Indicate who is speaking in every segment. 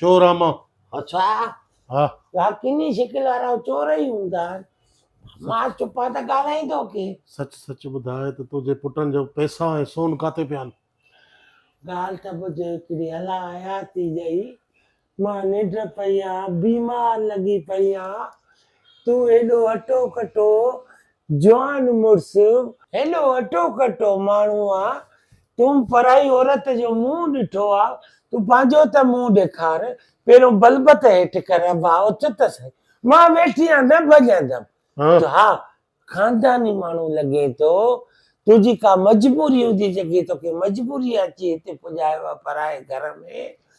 Speaker 1: چور آ مان
Speaker 2: اڇا
Speaker 1: ها
Speaker 2: يا ڪني
Speaker 1: شڪل وارا چور ئي هوندا مان چپا ته ڳالهائين ٿو ڪي سچ سچ ٻڌاء
Speaker 2: ته تنهنجي پٽن جو پئسا ۽ سون ڪاتي پيا آهن ڳالهه
Speaker 1: ته ٻڌ هڪڙي الله حياتي ڏئي مان ننڊ پئي آ بيمار لڳي پئي آ تون هيڏو هٽو ڪٽو جوان مڙس. هيڏو هٽو ڪٽو ماڻهو آ تون پرائي عورت جو منهن ڏٺو آ تون پنهنجو ته منهن ڏيکار پهريون بلبت هيٺ ڪر ڀاء اٿ ته سهي مان ويٺي آ نه ڀڄندم تو ها خانداني ماڻهو لڳين ٿو تنهنجي ڪا مجبوري هوندي جيڪي توکي مجبوري اچي هتي پڄايو آ پرائي گهر ۾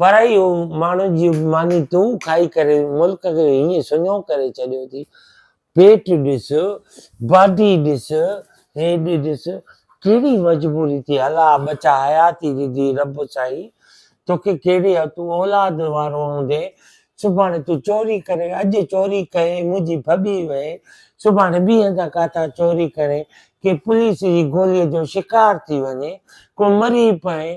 Speaker 1: پر اهو ماڻهن جي ماني تون کائي ڪري ملڪ کي هيئن سڃو ڪري ڇڏيو ٿي. پيٽ ڏس، باڊي ڏس، هيڊ ڏس، ڪهڙي مجبوري ٿي هلا ٻچا حياتي ڏني رب سائين توکي ڪهڙي ها تون اولاد وارو هوندين سڀاڻي تون چوري ڪرين اڄ چوري ڪئين منهنجي ڀڄي وئين سڀاڻي ٻي هنڌان ڪاٿان چوري ڪرين ڪي پوليس جي گولي جو شڪار ٿي وڃين ڪو مري پئين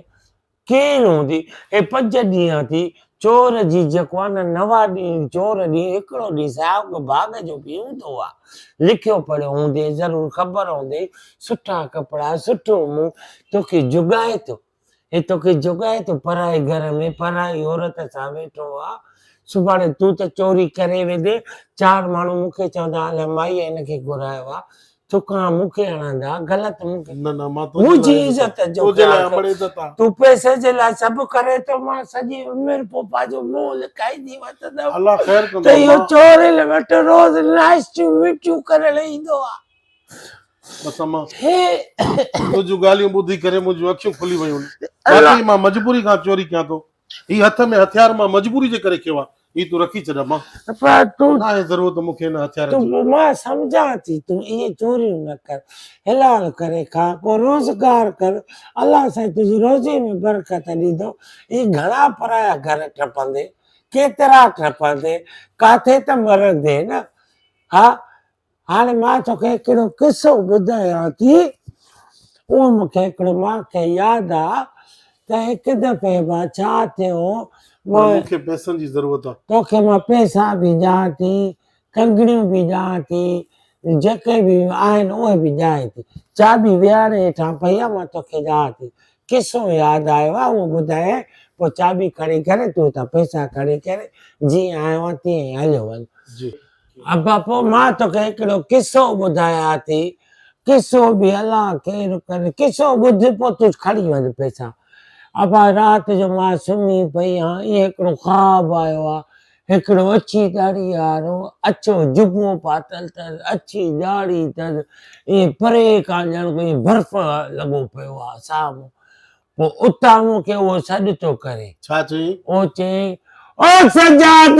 Speaker 1: ڪير هوندي اي پنج ڏينهن ٿي چور جي جيڪو آ نه نوا ڏينهن چور ڏينهن هڪڙو ڏينهن سائوڪ ڀاڳ جو به هوندو آ لکيو پڙهيو هوندين ضرور خبر هوندين سٺا ڪپڙا سٺو منهن توکي جوڳائي ٿو اي توکي جوڳائي ٿو پرائي گهر ۾ پرائي عورت سان ويٺو آ سڀاڻي تون ته چوري ڪري ويندين چار ماڻهو مونکي چوندا الاء مائي هن کي گهرايو آ ٿڪان مون کي اڻاندا غلط مون کي نه نه مان منهنجي
Speaker 2: عزت جو
Speaker 1: تنهنجي لاء امڙ عزت آ
Speaker 2: تون پئسي جي لاء
Speaker 1: سڀ ڪري ٿو مان سڄي عمر پوپا جو منهن لڪائيندي وتندم الله خير ڪندو ته
Speaker 2: اهو چور هن
Speaker 1: وٽ روز ناشتيون مٺيون ڪرڻ ايندو آ بس
Speaker 2: اما تنهنجون ڳالهيون ٻڌي ڪري منهنجون اکيون کلي ويون واقعي مان مجبوري کان چوري ڪيان ٿو هي هٿ ۾ هٿيار مان مجبوري جي ڪري کيو آ هي تون رکي ڇڏ اما. پر تون. ناهي
Speaker 1: ضرورت مون کي ان
Speaker 2: هٿيار جي. تون مان سمجهان
Speaker 1: ٿي تون ائين چوريون نه ڪر. حلال ڪري کاء ڪو روزگار ڪر الله سائين تنهنجي روزي ۾ برڪت ڏيندو. هي گهڻا پرايا گهر ٽپندين. ڪيترا ٽپندين. ڪاٿي ته مرندين نه. ها هاڻي مان توکي هڪڙو قصو ٻڌايان ٿي. اهو مون کي هڪڙي واقعي ياد آ ته هڪ دفعي مان ڇا ٿيو مان مون کي
Speaker 2: پئسن جي ضرورت
Speaker 1: آ. توکي
Speaker 2: مان
Speaker 1: پئسا به ڏيان
Speaker 2: ٿي، ڪنگڻيون
Speaker 1: به ڏيان ٿي، جيڪي به آهن اهي به ڏيانء ٿي. چاٻي ويهاري هيٺان پئي آ، مان توکي ڏيان ٿي. قصو ياد آيو آ، اهو ٻڌايائين، پوء چاٻي کڻي ڪري تون هتان پئسا کڻي ڪري جيئن آيو آهين تيئن ئي هليو وڃ.
Speaker 2: ابا پوء
Speaker 1: مان توکي هڪڙو قصو ٻڌايا ٿي. قصو به الا ڪير ڪن قصو ٻڌ پوء تون کڻي وڃ پئسا. ابا رات جو مان سمهي پئي هان ائين هڪڙو خواب آيو آ هڪڙو اڇي ڏاڙهي وارو اڇو جبو پاتل تس اڇي ڏاڙهي تس ائين پري کان ڄڻ ڪوئي برف لڳو پيو آ سامهون پوء اتان مون کي اهو سڏ ٿو ڪري. ڇا چئين؟ او
Speaker 2: چئين
Speaker 1: او سجاد!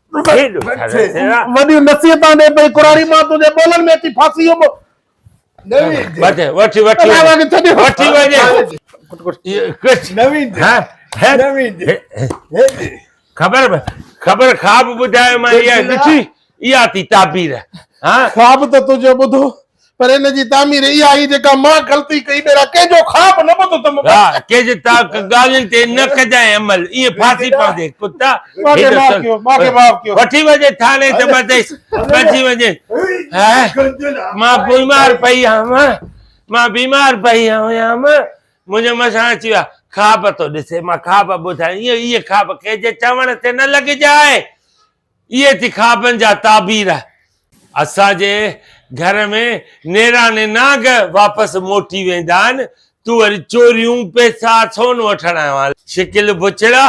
Speaker 3: وڏيون نصيحتان ڏي
Speaker 2: پئي قراري مان تنهنجي ٻولن ۾ اچي ڦاسي
Speaker 4: ويو خبر
Speaker 3: خبر خواب ٻڌايو مان اها ڏٺي اها ٿي تعبير خواب ته تنهنجو
Speaker 2: ٻڌو پر ان جي تعمير اها هئي جيڪا مان غلطي ڪئي ٻيرا ڪنهن جو خواب نه ٻڌو ته مبارڪ ها ڪنهن جي تا
Speaker 3: ڳالهين تي نه ڪجانء عمل ايئن ڦاسي پوندي ڪتا ماکي معاف ڪيو
Speaker 2: ماکي معاف ڪيو وٺي وڃي ٿاڻي ته
Speaker 3: ٻڌيس ٻڌجي وڃي مان بيمار پئي هئم مان بيمار پئي هيم منهنجي مسان اچي ويا خواب ٿو ڏسي مان خواب ٻڌايان ايئن ايئن خواب ڪنهن جي چوڻ تي نه لڳجانء اهي ٿي خوابن جا تعبير. اسان جي گهر ۾ نيراني نانگ واپس موٽي ويندا آهن، تون وري چوريون، پيسا، سون وٺڻ آيو آهين. شڪل بڇڙا،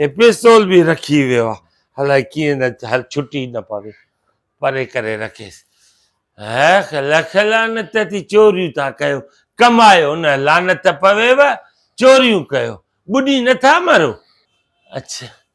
Speaker 3: هي پستول به رکي ويو آهي، الائي ڪيئن نه هر ڇٽي نه پوي، پري ڪري رکيس. هيخ لک لعنت اٿي چوريون ٿا ڪيو، ڪمايو نه، لعنت پويو، چوريون ڪيو، ٻڏي نٿا مرو. اڇ